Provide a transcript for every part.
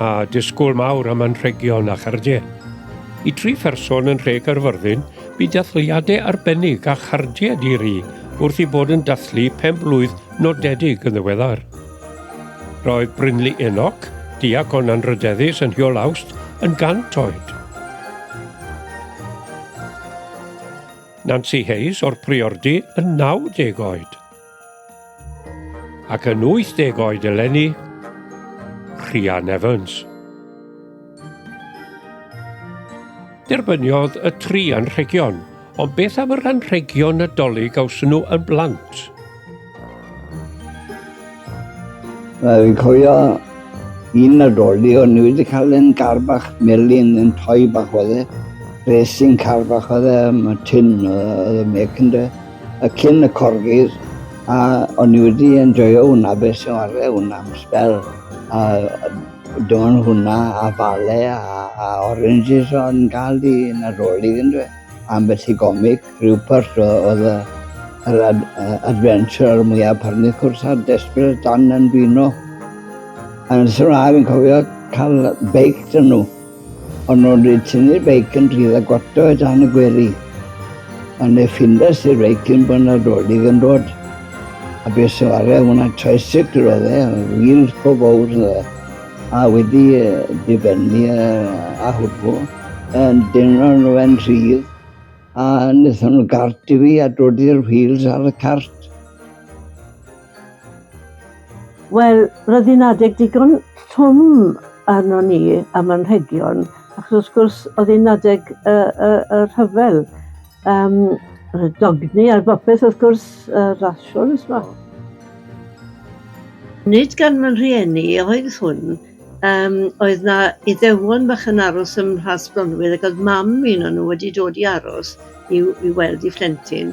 a disgwyl mawr am anrhegion a chardiau. I dri pherson yn Nhre Gaerfyrddin, bu dathliadau arbennig a chardiau di-ri wrth i bod yn dathlu pen blwydd nodedig yn ddiweddar. Roedd Brynley Enoch, diacon anrydeddus yn Hiol Awst, yn gant oed. Nancy Hayes o'r Priordy yn 90 oed. Ac yn 80 oed eleni, Rhian Evans. Derbyniodd y tri anrhegion, ond beth am yr anrhegion nadolig a wsyn nhw yn blant? Mae fi'n cofio un nadoli o'n i wedi cael yn gar bach melin yn toi bach oedd e. Racing car bach oedd e, mae tin oedd y mec yn dweud. y cyn y corgis a o'n i wedi enjoyo hwnna beth sy'n warre hwnna am spel a dyma hwnna a fale a, a oranges o'n gael di yn y rôl i dwi am beth i gomig rhyw pwrs oedd y yr ad, uh, adventure mwyaf parnydd cwrs a desbryd dan yn bino. A yn sy'n rhaid fi'n cofio cael beic dyn nhw. Ond o'n rhaid tynnu'r beic yn rhydd a gwato o dan y gwely. Ond ne ffindes i'r beic yn bod Nadolig yn dod. A be sy'n ware hwnna tricycle oedd e, wheels go fawr oedd e. A wedi difennu a hwbl, yn dynol nhw fe'n rhydd, a wnaethon nhw gart i fi a dodi'r wheels ar y cart. Wel, roedd hi'n adeg digon trwm arno ni am anrhegion, achos wrth gwrs oedd hi'n adeg y, y, y rhyfel. Um, y dogni ar bopeth wrth gwrs, y rasiwn yma. Nid gan fy rhieni oedd hwn, um, oedd na iddewon bach yn aros ym Mhlas Bronwydd ac oedd mam un o'n nhw wedi dod i aros i, i weld i phlentyn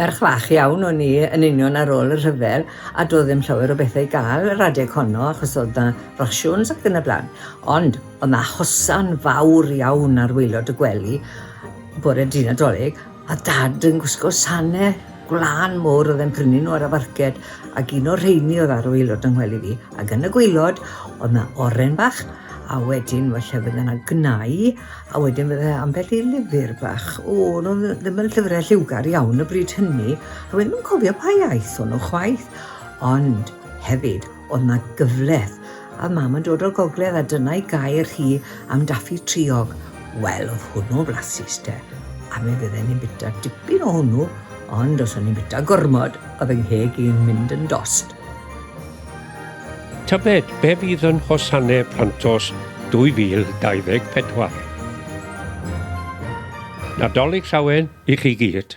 Merch fach iawn o'n i yn union ar ôl y rhyfel a doedd ddim llawer o bethau i gael yr adeg honno achos oedd na rasiwns ac yn y blaen. Ond oedd na hosan fawr iawn ar waelod y gwely bore dydd Nadolig a dad yn gwisgo sanau gwlân mowr oedd e'n prynu nhw ar y farced ac un o'r rheini oedd ar waelod yng ngwely fi ac yn y gwaelod oedd na oren bach a wedyn falle fydde yna gnau A wedyn fydde ambell i lyfr bach, o, nhw ddim yn llyfrau lliwgar iawn y bryd hynny, a wedyn nhw'n cofio pa iaith o'n nhw chwaith. Ond hefyd, oedd yna gyfleth, a mam yn dod o'r gogledd a dyna'i gair hi am daffi triog. Wel, oedd hwnnw flasus te, a mi fydde ni'n bita dipyn o hwnnw, ond os o'n ni'n bita gormod, oedd yng ngheg i'n mynd yn dost. Tybed be fydd yn Hosanne Plantos 2024? Nadolig Llawen i chi gyd!